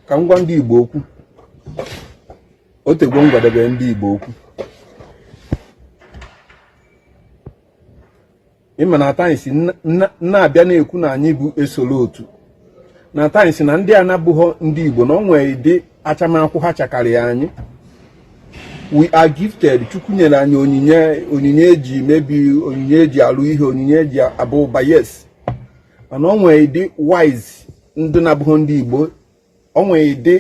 ka m gwa ndị Igbo okwu o tegwo m gwadebe ndị Igbo okwu ị ma na at times m na-abịa na-ekwu na anyị bụ esoro otu na at times na ndị a na-abụghọ ndị Igbo na o nwere ụdị achamakwụ ha chakarịa anyị we are gifted Chukwu nyere anyị onyinye onyinye eji mebi onyinye eji alụ ihe onyinye eji abụ ụba yes mana o nwere ụdị wise ndị na-abụghọ ndị Igbo o nwere ụdị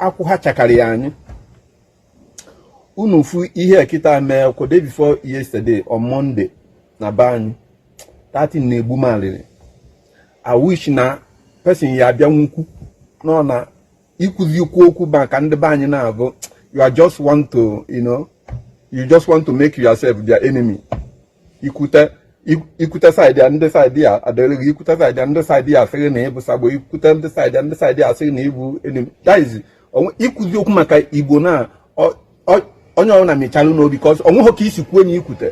akwụ ha chakarịa anyị unu fu ihe kịta mee kwa day before yesterday on Monday na be anyị datin na-egbu m alịrị I wish na person ya abịa kwuo okwu nọ na ikwuzi ikwu okwu maka ndị be anyị na-abụ you are just want to you know you just want to make yourself their enemy ikwute ikwute side a ndị side a adịrị gị ikwute side a ndị side a asị gị na ị bụ sabo ikwute ndị side a ndị side a asị gị na ị bụ enemy that is ikwuzi okwu maka Igbo na onye ọbụla mechilu ọnụ because o nweghị ka isi kwuo na ikwute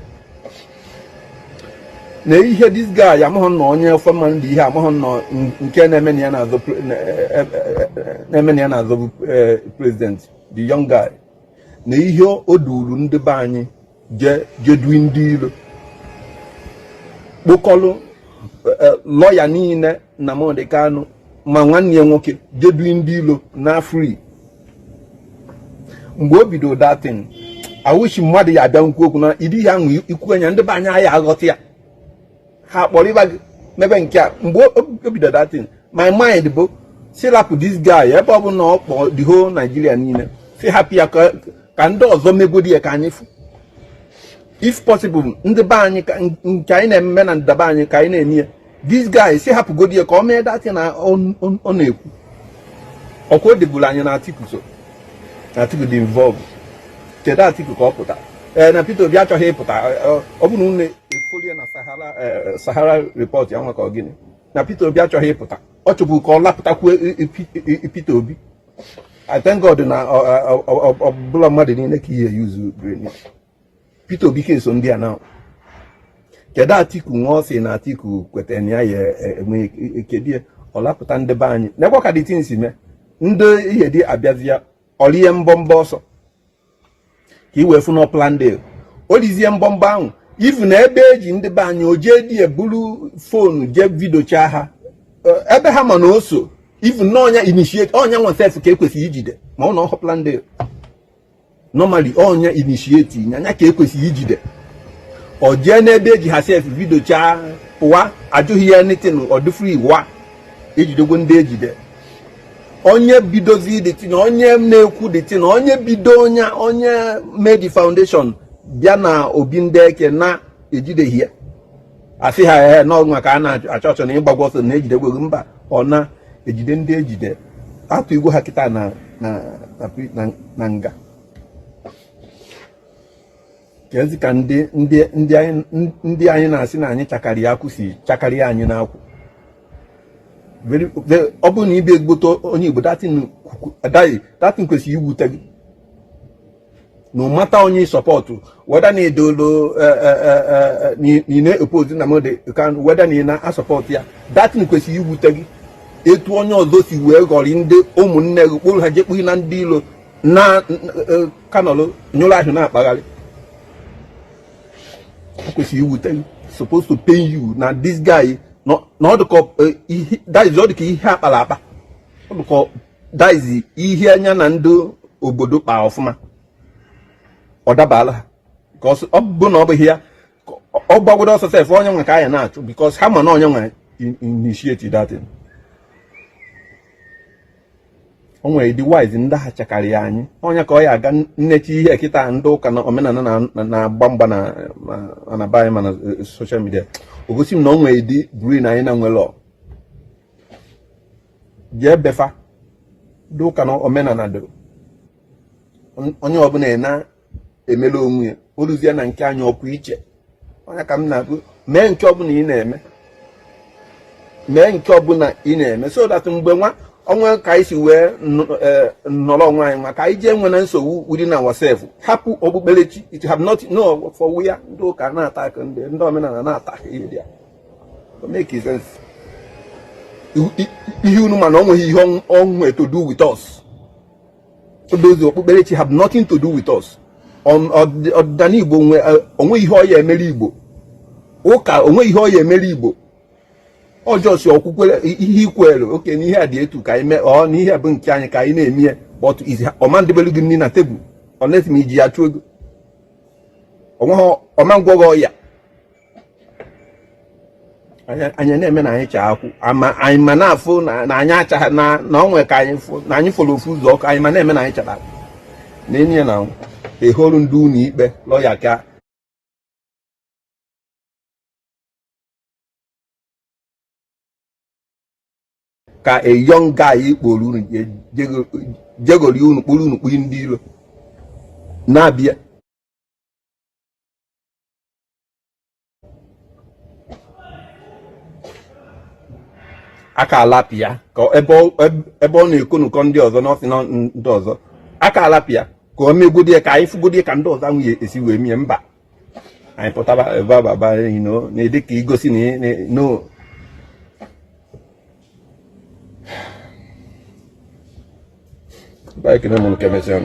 na ihe this guy amaghị nna onye ofe mmanụ dị ihe amaghị nna nke na-eme na ya na-azọ e, e, e, president the young guy na ihe o duru ndị be anyị jee dunye ndị ilo kpokọlụ e, e, lawyer niile Nnamdi Kanu ma nwanne ya nwoke jee dunye ndị ilo na free mgbe o bido datin I wish mmadụ ya abịa kwuo okwu na ụdị ihe ahụ ikwu nya ndị be anyị ya aghọta ya ha kparịba gị mebe nke a mgbe o bido datin my mind bụ sị rapụ this guy ebe ọ bụ na ọ kpọọ the whole Nigeria niile sị hapụ ya ka ndị ọzọ megodi ya ka anyị fụ if possible ndị be anyị nke anyị na-eme na ndaba anyị ka anyị na-eme ya this guy sị hapụgodi ya ka o mee datin na ọ na-ekwu ọkwa o deburu anyị na Atiku so Atiku dị involve kedu Atiku ka ọ pụta ee na Peter Obi achọghị ịpụta ọ bụrụ na efolie na Sahara Sahara report ya nwa ka ọ gịnị na Peter Obi achọghị ịpụta ọ chọbu ka ọ lapụtakwuo Peter Obi I thank God na ọ bụrọ mmadụ niile ka ị ya use brain Peter Obi ka eso ndị a na kedu Atiku nwa ọ sị na Atiku kwetara na ya ya enwe kedu ọ lapụta ndị be anyị nekwa ka the thing si mee ndị ihe dị abịazịa o rie mbọmbọ ọsọ ka i wee fụ na ọ planned deal o rizie mbọmbọ ahụ ifu na ebe eji ndị be anyị o jee di ya buru phone jee videochaa ha ebe ha ma na o so ifu na ọ nya initiate ọ nya nwa sef ka e kwesịrị ijide mana ọ wụ planned deal normally onye initiate nya nya ka e kwesịrị ijide ọ jee n'ebe eji ha sef vidiochaa pụwa ajụghị ya anything ọ dị free wa ejidegwo ndị ejide onye bidozi the thing onye na-ekwu the thing onye bido nya onye made the foundation bịa na obi ndị eke na ejideghị ya a sị ha ee na ọ nwa ka a na-achọ achọ na ị gbagwo ọsọ na ejidegwo gị mba ọ na-ejide ndị ejide atụyegwo ha kịta na nga kezi ka ndị anyị na-asị na anyị chakari akwụ si chakari anyị n'akwụ ọ bụrụ na ị bụ ezigbote onye Igbo that thing kwesịrị iwute gị no matter onye ị support whether na edolo eh, eh, eh, na oppose Nnamdi Kanu whether na ị na-asọpọtụ ya that thing kwesịrị iwute gị etu onye ọzọ si wee ghọrị ndị ụmụnne gị kpụrụ ha jee kpụnye ndị ilo n'aka nọlụ nyụrụ ahụ na-akpagharị kwesịrị iwute gị supposed to pain you na this guy na ọ dịka ihe akpala akpa ọ dịka that is ihe nya na ndị obodo kpa ọfụma ọ dabaala ha ka ọ bụ na ọ bụghị ya ọ gbagodo ọsọ sef ọ nya nwa ka a ya na-achụ because ha ma na ọ nya nwa initiate that thing o nwere ụdị wise ndị ha chakarịa anyị onye ka ọ ya aga nnechi ihe kịta ndị ụka na omenala na-agba mgba na anaba anyị mana eh, social media o gosi m na o nwere ụdị brain anyị na nwere jee before ndị ụka na omenala doro onye ọbụla na-emere onwe ya o luzie na nke anyị ọ pụọ iche ọ ya ka m na-abụ mee nke ọbụla ị na-eme mee nke ọbụla ị na-eme so that mgbe nwa onwe ka anyị si wee e, nọrọ onwe anyị nwa ka anyị jee nwe na nsogbu within ourselves hapụ okpukperechi it have not no for we ndị ụka na-attack ndị omenala na-attack ihe dị ya ihe unu ma na ọ nweghị ihe o nwe to do with us all those okpukperechi have nothing to do with us ọdịnana igbo o nwe ihe ọ ya emere igbo ụka o nwe ihe ọ ya emere igbo ọ just okwukwe ihe i kwere okay n'ihe a dị etu ka anyị ọ n'ihe bụ nke anyị ka anyị na-eme ya but ọ ma ndebelu gị nri na tebụl unless i ji ya chụọ ego ọ ma ngwọ gị ọya anyị na-eme na anyị chaa akwụ ma anyị ma na-afụ na anyị achaghị na onwe ka anyị fụ na anyị fụrụ ofu ụzọ ọkụ anyị ma na-eme na anyị chara akwụ na enyi ya na eholu ndị ụlọ ikpe lọya ka ka a young guy kpọrọ unu jegori unu kpuru unu kpuru ndị iro na-abịa aka alapụ ya ka ebe ọ na-ekonukọ ndị ọzọ n'ọsị na ndị ọzọ aka alapụ ya ka o megodi ya ka anyị fụgodi ka ndị ọzọ nwunye esi wee mie mba anyị pụtaba ebe ababa na-adị ka igosi na Belki de bunu kemesyon.